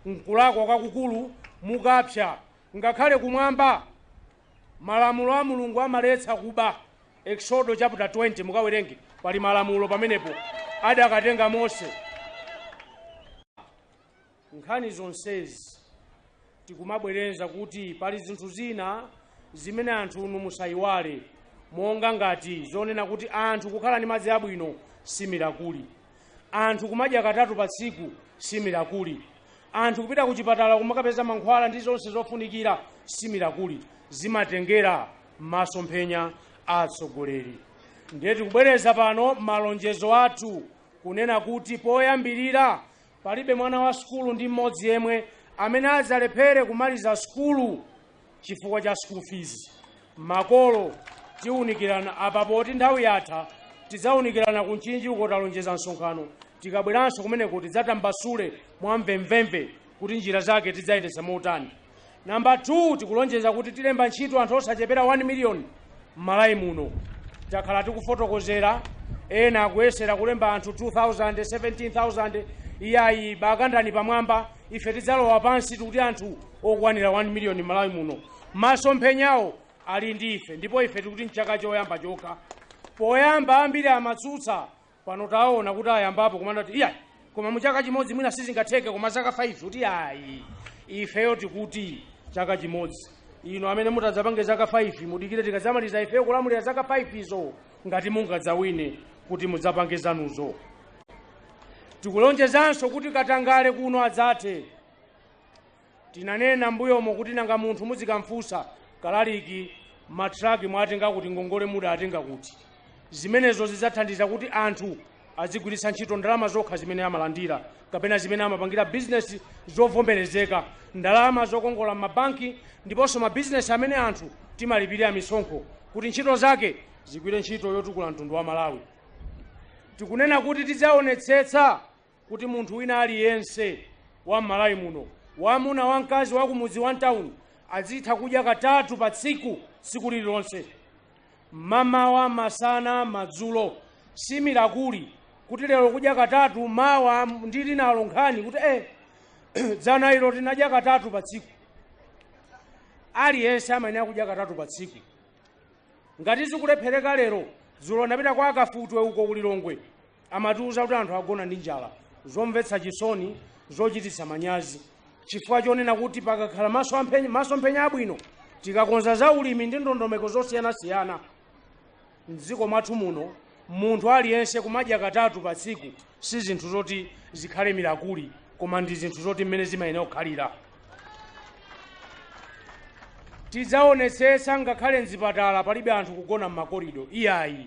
Nkulakwa kwakukulu mukapsa ngakhale kumwamba. Malamulo a Mulungu amaletsa kuba. Eksodo chaputa 20 mukawerenge pali malamulo pamenepo adakatenga Mose. Nkhani zonsezi tikumabwereza kuti pali zinthu zina zimene anthu inu musayiwale monga ngati zonena kuti anthu kukhala ndi madzi abwino si mirakuli. anthu kumadya katatu pa tsiku si mirakuli anthu kupita ku chipatala kumakapeza mankhwala ndi zonse zofunikira si mirakuli zimatengera masomphenya a atsogoleri ndiye tikubwereza pano malonjezo athu kunena kuti poyambirira palibe mwana wa sukulu ndi mmodzi yemwe amene adzalephere kumaliza sukulu chifukwa cha school fees makolo tiwunikirana apa poti nthawi yatha tidzawunikirana ku Mchinji uko talonjeza msonkhano tikabweranso kumeneko tidzatambasule mwamvemvemve kuti njira zake tidzayendetsa motani namba 2 tikulonjeza kuti tilemba ntchito anthu osachepera 1 miliyoni m'Malawi muno takhala tikufotokozera ena akuyesera kulemba anthu 2000 17000 iyayi bakandani pamwamba ife tidzalowa pansi tikuti anthu okwanira 1 miliyoni m'Malawi muno masomphenyawo ali ndi ife ndipo ife tikuti mchaka choyamba chokha poyamba ambiri amatsutsa pano taona kuti ayambapo kumanena kuti iyayi koma muchaka chimodzi mwina sizingatheke koma zaka 5 kuti ayi ifeyo tikuti chaka chimodzi inu amene mutadzapange zaka 5 mudikire tikadzamaliza ifeyo kulamulira zaka 5 izo ngati mungadzawine kuti mudzapange zanuzo tikulonjezanso kuti katangale kuno adzathe tinanena mbuyomo kuti nanga munthu muzikamfunsa kalaliki matraki mwatenga kuti ngongole mudakatenga kuti zimenezo zidzathandiza kuti anthu azigwiritsa ntchito ndalama zokha zimene amalandira kapena zimene amapangira bizinesi zovomerezeka ndalama zokongola m'mabanki ndiponso mabizinesi amene anthu timalipirira misonkho kuti ntchito zake zigwire ntchito yotukula mtundu wa malawi tikunena kuti tidzaonetsetsa kuti munthu wina aliyense wa m'malawi muno wamuna wamkazi wakumudzi wa mtawuni azitha kudya katatu pa tsiku tsiku lililonse mamawa masana madzulo si mirakuli kuti lero kudya katatu mawa ndi linalo nkhani kuti eh, dzana ilo tinadya katatu pa tsiku aliyense amayenera kudya katatu pa tsiku ngati zikulephereka lero dzulo ndapita kwa akafutwe uko ku Lilongwe amatiuza kuti anthu agona ndi njala zomvetsa chisoni zochititsa manyazi chifukwa chonena kuti pakakhala masomphenya abwino tikakonza za ulimi ndi ndondomeko zosiyanasiyana mdziko mwathu muno munthu aliyense kumadya katatu pa tsiku si zinthu zoti zikhale mirakuli koma ndi zinthu zoti mmene zimayenera kukhalira tidzaonetsetsa ngakhale mzipatala palibe anthu kugona m'makorido iyayi